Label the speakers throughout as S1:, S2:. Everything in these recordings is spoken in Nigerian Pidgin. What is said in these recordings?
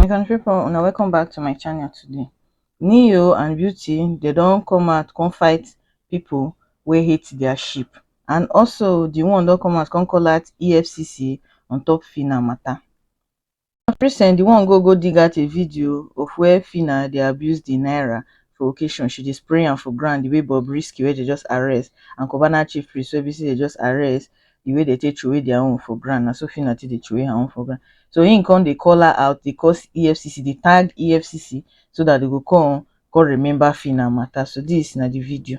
S1: my country people una welcome back to my channel today neo and beauty they don come out come fight people wey hate their sheep and also the one don come out come call out efcc on top fina matter na present di one go go dig out a video of wia phyna dey abuse di naira for occasion she dey spray am for ground di way bobrisky wey dem just arrest and cubana chief priest wey be say dem just arrest di way dem take throway dia own for ground na so phyna take dey throway her own for ground so im come dey call her out dey call efcc dey tag efcc so dat dem go come come remember phyna mata so dis na di video.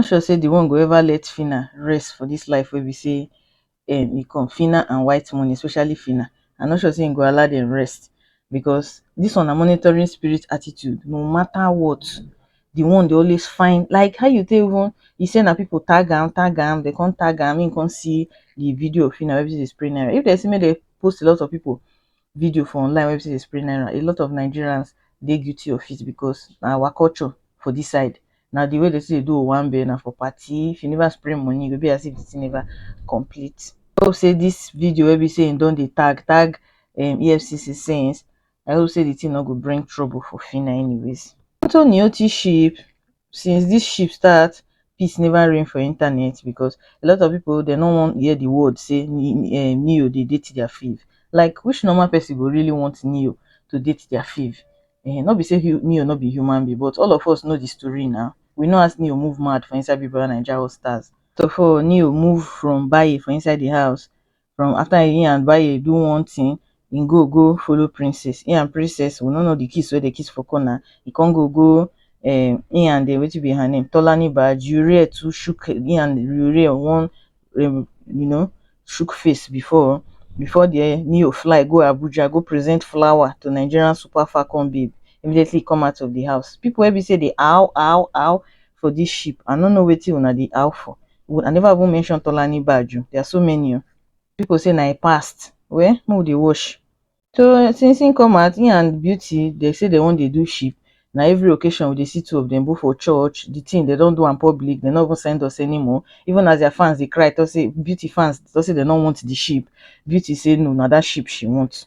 S1: no sure say the one go ever let phyna rest for this life wey be say um e come phyna and white money especially phyna i no sure say him go allow them rest because this one na monitoring spirit attitude no matter what the one dey always find like how you take even he say na people tag am tag am they come tag am him come see the video of phyna wey be say dey spray naira if they say make they post a lot of people video for online where they spray naira, a lot of Nigerians they guilty of it because our culture for this side. Now the way they say they do one bill now for party, if you never spray money, you'll be as if it's never complete. I hope say this video will be saying don't they tag tag um, EFCC since I hope say the thing not go bring trouble for Fina anyways. Anthony Oti sheep since this ship start peace never reign for internet because a lot of people dem no wan hear the word say neo dey date their fave like which normal person go really want neo to date their fave um no be say neo no be human being but all of us know the story now we know as neo move mad for inside big brother naija all stars first of all neo move from bayi for inside the house from after he and bae do one thing he go go follow princess he and princess we no know the kiss wey dey kiss for corner he come go go um he and the wetin be her name tolani ba jurie too shook he and jurie one um you know shook face before before there neo fly go abuja go present flower to nigerian super falcon babe immediately he come out of the house people wey be say dey aw aw aw for this ship. I no know wetin una dey out for. I never even mention Tolani badge. Oh. There are so many. Oh. People say na a past. Well, who they wash? So since he come out, he and Beauty, they say they want to do ship. Now every occasion we dey see two of them both for church. The thing they don't do in public, they not even send us anymore. Even as their fans they cry, they say Beauty fans, they say they don't want the ship. Beauty say no, now that ship she wants.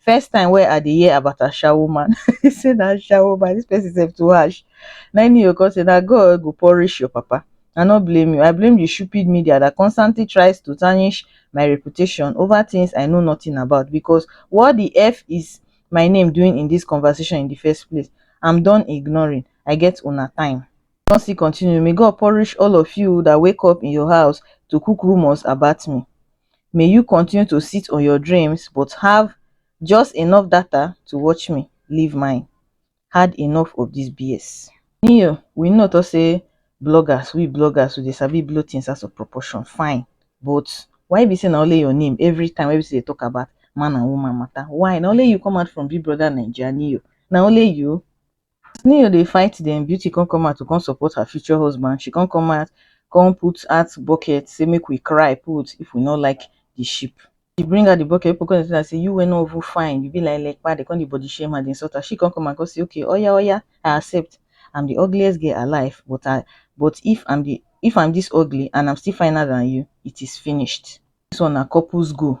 S1: first time wey I dey hear about ashawo man, he say na ashawo man, this person sef too harsh. Na him Neo come say na God go punish your papa, I no blame you, I blame the stupid media that constantly tries to tarnish my reputation over things I know nothing about because what the F is my name doing in this conversation in the first place? I'm done ignoring, I get una time. He come still continue, may God punish all of you that wake up in your house to cook rumours about me. May you continue to sit on your dreams but have just enough data to watch me leave mine. Had enough of this BS. Neo, we know to say bloggers, we bloggers, we dey sabi blow things out of proportion, fine. But why be say na only your name every time wey be say dey talk about man and woman matter? Why? Na only you come out from Big Brother Naija, Neo. Na only you? as neo dey fight dem beauty come come out to come support her future husband she come come out come put out bucket say make we cry put if we no like the sheep she bring out the bucket people come dey tell her say you wey no even fine you be like lekpa they come dey body shame her dey insult her she come come out come say okay oya oya I accept I'm the ugliest girl alive but I but if I'm the if I'm this ugly and I'm still finer than you it is finished this one na couples goal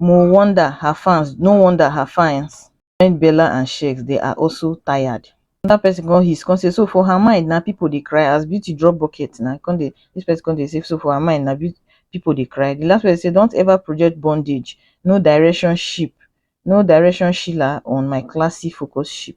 S1: mo wonder her fans no wonder her fans join bella and sheggz they are also tired another person come hiss come say so for her mind na people dey cry as beauty drop bucket na come dey this person come dey say so for her mind na beauty people dey cry the last person say don't ever project bondage no direction ship no direction sheila on my classy focus ship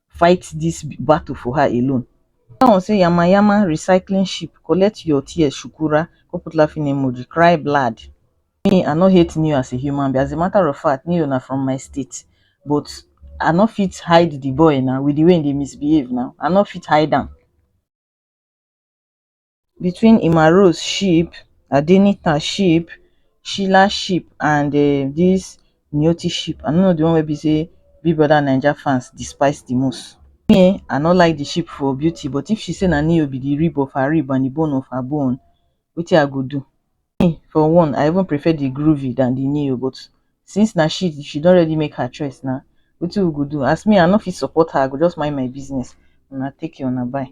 S1: fight this battle for her alone. That one say yama yama recycling ship collect your tears shukura go put laughing emoji cry blood. Me I no hate Neo as a human being as a matter of fact Neo na from my state but I no fit hide the boy now with the way he dey misbehave now I no fit hide am. between emma rose ship adenita ship sheila ship and um this nyeoti ship i no know the one wey be say big brother naija fans despise the most me um i no like the ship for beauty but if she say na neo be the rib of her rib and the bone of her bone wetin i go do me for one i even prefer the groovy than the neo but since na she she don already make her choice na wetin we go do as me i no fit support her i go just mind my business una take care una bye